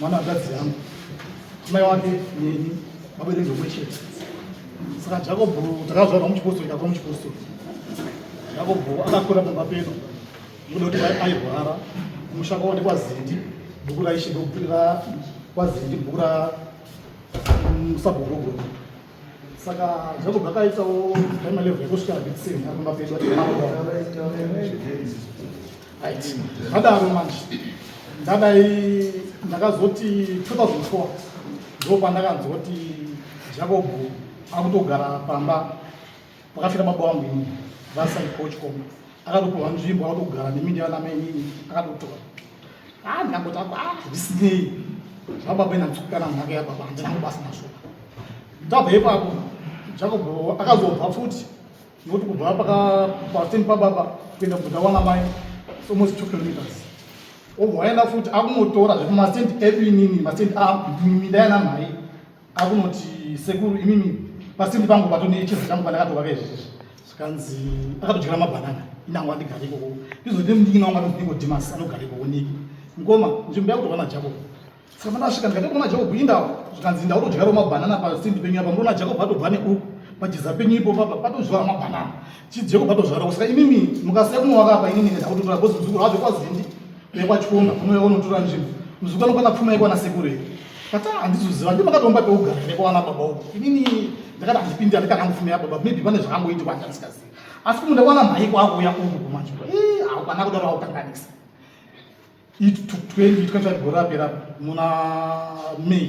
mwana wakadzi yangu mai wake neni vabereki vomwe chete saka jakobho takazvarwa muchipostori takura muchipostori jakobho akakura pamba pedu ndoda kuti airwara musha kwavo ndekwazindi bhuku raishe ndokutirira kwazindi bhuku ra mm, sabhogogoro saka zvakobva akaitawo aima level yekusvika vixen akumba pedu right vadaro manje ndadai ndakazoti 2004 ndo pandakanzwa kuti jacob akutogara pamba Pakafira baba wangu ini vasaikochkom akatopiwa nzvimbo akatogara nemi ndiana mainini akatotora ah ndangoti ako ah zvisinei zvababa inanzukukana nhaka yababa handina kubasa nazvo tabva ipapo jacob akazobva futi nokuti kubva pakapateni pababa kuenda kuda wana mai almost two kilometers obva waenda futi akumotora zvekumastendi edu inini mastendi a minda yana mhai akunoti sekuru imimi pasindi pangu pato nechese changu pandakatovaka izvezvi zvikanzi akatodyira mabhanana inango andigare ikoko izoti mudiki nawo ngati mudiko dimas anogara ikoko niki mukoma nzvimbo yakutovana jacob saka pandasvika ndikati kuna jacob indawo zvikanzi indawo todyirawo mabhanana pasindi penyu apa ndona jacob atobva neuku pajiza penyu ipo papa patozvara mabhanana chii jacob atozvara saka imimi mukasiya kunovaka apa inini ndakutotora bhozi muzukuru hazvo kwazindi vekwachikomba kunouya kunotora nzvimbo muzukana kwakapfuma ikwana sekuru here kata handizoziva ndi makatomba peugara nekwawana baba uku inini ndakati handipindi andikanangofumira baba maybe pane zvakangoitikwa ndandisikazivi asi kumunda kwana mhai kwakuuya uku kumanje haukana kudaro aukanganisa it took 20 25 gore apera muna may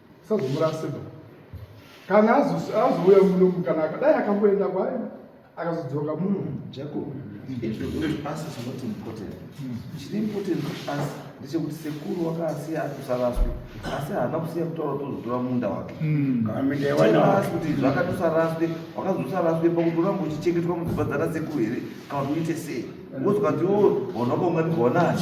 Usazomurasirwa. Kana azouya muno kana akadai akamboenda kwaye akazodzoka muno. Jacob, it will not pass is not important. Chiri important pass ndechekuti sekuru wakasiya atusaraswi asi haana kusiya kutaura tozotora munda wake hmm. kuti zvakatosaraswi wakazosaraswi pakutoramba uchichengetwa mudzimba dzana sekuru here kana kuti uite sei wozokati wo hona kwaungatigwanani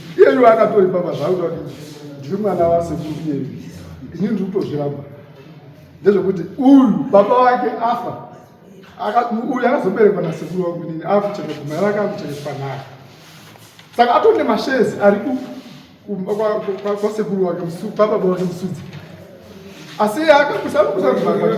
iyeyu akatori papa zvakuta kuti ndiri mwana wasekuru iyeyu ini ndiri kutozviramba ndezvekuti uyu baba wake afa uyu akazoberekwa nasekuru wangu inini akucheka kumara ake akuchekeswa naye saka atori nemashezi ari kwasekuru wake baba wake musudzi asi akakusakusakuaani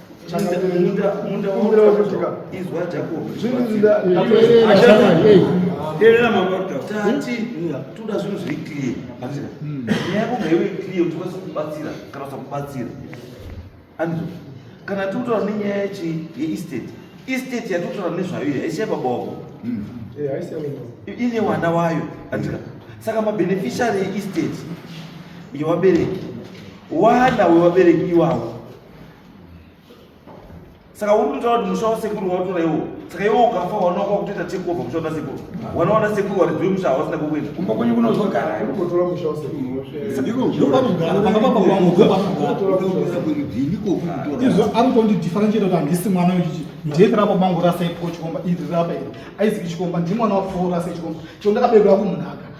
toda zvinhu zviri clear hazvina hmm. nyaya kunge iwe clear kuti kwese kubatsira kana usakubatsira anizvo kana tikutora nenyaya yachi yeestate estate yatikutora nezvayo iyi haisi yababoko hmm. eh, ine wana wayo andika saka mabeneficiary yeestate yevabereki wana wevabereki iwawo saka uri kutaura kuti musha wasekuru wautora iwo saka iwo ukafa wanaoka kutoita takeover musha una sekuru wanaona sekuru waridhuri musha hawasina kukuita kumba kwenyu kunozogara kutotora musha wasekuru izvo ari kutondidhifarencheta kuti handisi mwana wechiti ndiye rapa mangu rasa ipo chikomba iri rapa iri aizivi chikomba ndimwana wapfuura sechikomba chio ndakabeurwa kumunhaka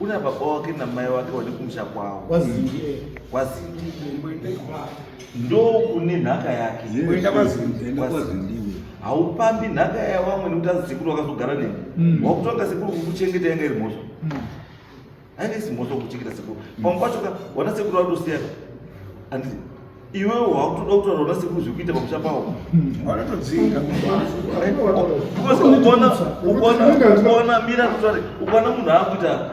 Una baba wake na mai wake wali kumusha kwao. Kwazindi. Kwazindi. Ndo kune nhaka yake. Kuenda kwazindi. Enda kwazindi. Haupambi nhaka ya wamwe nekuti azisekuru wakazogara nini. Mm. Wakutonga sekuru kukuchengeta yanga iri mhosva. Mm. Haina isi mhosva kukuchengeta sekuru. Pamwe pacho ka wana sekuru watosiya. Andii. iwewe wakutoda kutaura una sekuru zvekuita pamusha pawo vanotodzinga ukaona mira kutare ukaona munhu akuita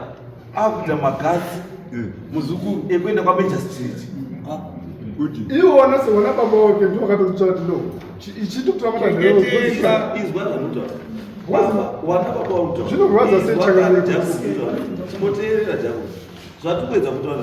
akuita magasi eh. muzukuru ekuenda kwameja street iwo wanase wana baba wake ndi wakatotsvati no ichitokutavaazvinogwaza sechakaiimboteerera jako zvatikuedza kutaura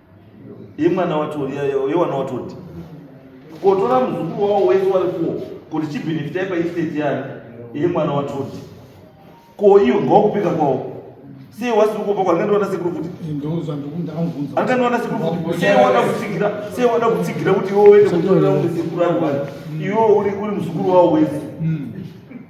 Ye mwana wacho ye wana watoti. Kotora muzukuru wao wese wari kuwo kuti chibenefita ipa estate yani ye mwana watoti. Ko iyo ngokupika kwao. Sei wasiri kupa kwa ngandona sekuru kuti. Ndoza ndokunda anvunza. Angandona sekuru kuti sei wada kutsigira sei wada kutsigira kuti iwe uende kutora umwe sekuru ari wani. Iwe uri uri muzukuru wao wese. Mm.